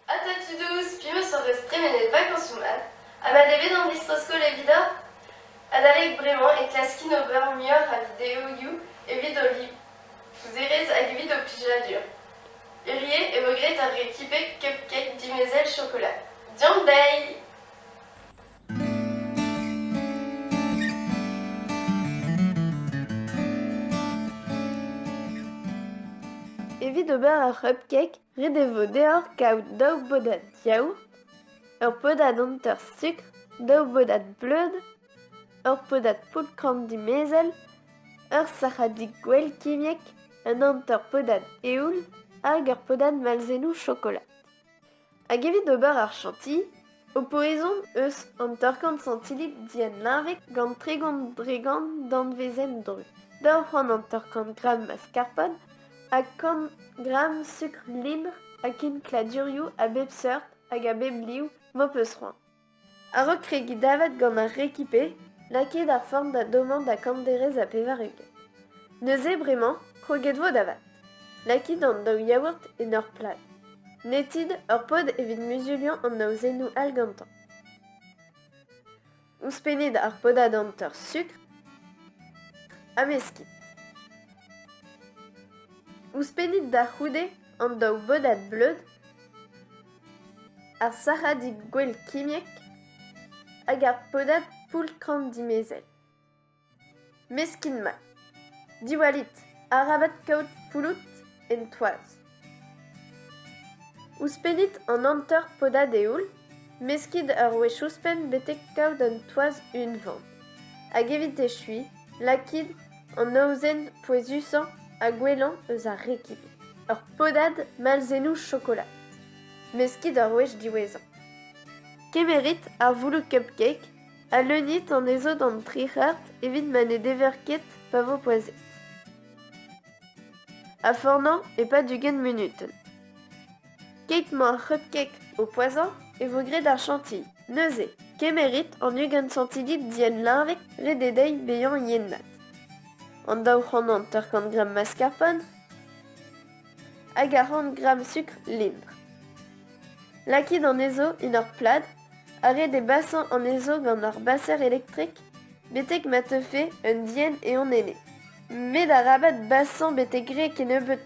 Atant Tudous, piros hon eus tremenet vakañsoù mat ha mat eo bet an distro-skol evidoñ? Adalek bremañ e klaskin ober muioc'h a videoioù evit ho livouzerezh hag evit ho plijadur. Hirie e vo graet ar rekipe Cupcake dimezell chokolat. Diomp dezhi! Evit ober ur cupcake, ret e vo deoc'h kaout daou bodad yaourt, ur podad hanter sukr, daou bodad bleud, ur podad poultr-korn dimezell, ur sac'hadig gwell kimiek, un hanter podad eoul hag ur podad malzennoù chokolat. Hag evit ober ar chantilly ho po ezhomm eus hanter-kant santilli dienleñvek gant tregont dregont danvezenn dru, daou c'hant hanter-kant gramm maskarpone ha kant gramm sukr lin ha kenkladurioù a bep seurt hag a bep liv m'ho peus c'hoant. A-raok kregiñ davat gant ar rekipe, n'a ket ar form da dommañ da kanderez ha pevar-ugent. Neuze bremañ, kroget vo da vat. Lakit an daou yaourt en ur plad. Netit ur pod evit muzuliañ an aozennoù all gantañ. Ouzhpennit ar podad hanter sukr ha meskit. Ouzhpennit da c'houde an daou bodad bleud Ar sac'hadig gwell kimiek hag ar podad poultran dimezell. Meskin mat. Diwallit, arabat kaout poulout en toaz. Ouzhpennit an hanter podad eoul, meskit ur wech ouzhpenn betek kaout un toaz unvan. Hag evit echuiñ, Lakit an aozenn pouezusañ ha gwellañ eus ar rekib, ur podad malzennoù chokolat. Meskit ur wech diwezhañ. Kemerit ar voullo cupcake ha leunit anezho d'an tri c'hart evit ma ne dever ket pa vo poazhet. Ha fornañ e-pad ugent munutenn. Keit m'emaoc'h hep-kek o poazhañ e vo graet ar chantilly. Neuze, kemerit an ugent santillit dienleñvek ret eo dezhi bezañ yen-mat. An daou c'hranant eur kant gramm mascarpone hag ar c'hant gramm sukr lintr. Lakit anezho en ur plad ha ret eo basañ anezho gant ur baser elektrek betek ma teufe un dienn eon enne. Met arabat basañ betek re kennebeut.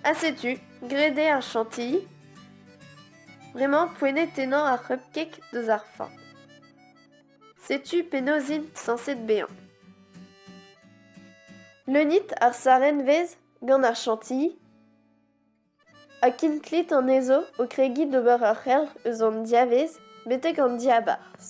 Ha setu, graet eo ar chantilly. Bremañ, poent tennañ ar c'hupkeg deus ar fañ. Setu penaos int sañset bezañ. Leunit ar sarenvez gant ar chantilly ha kinklit anezho o kregiñ d'ober ur c'helc'h eus an diavez betek an diabarzh.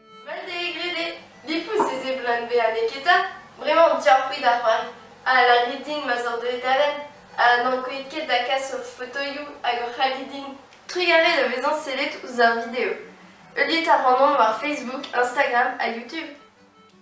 Vel d'he grede, difous ez eo Blount bezañ neketa, bremañ on tu-ar-c'hwi da c'hoari, ha lârit din ma zor deuet da lenn, ha n'ankouait ket da kas hor fotoioù hag hor c'halli din. Trugarez da vezañ sellet ouzh ar video. Heuliet a ran on war Facebook, Instagram ha YouTube.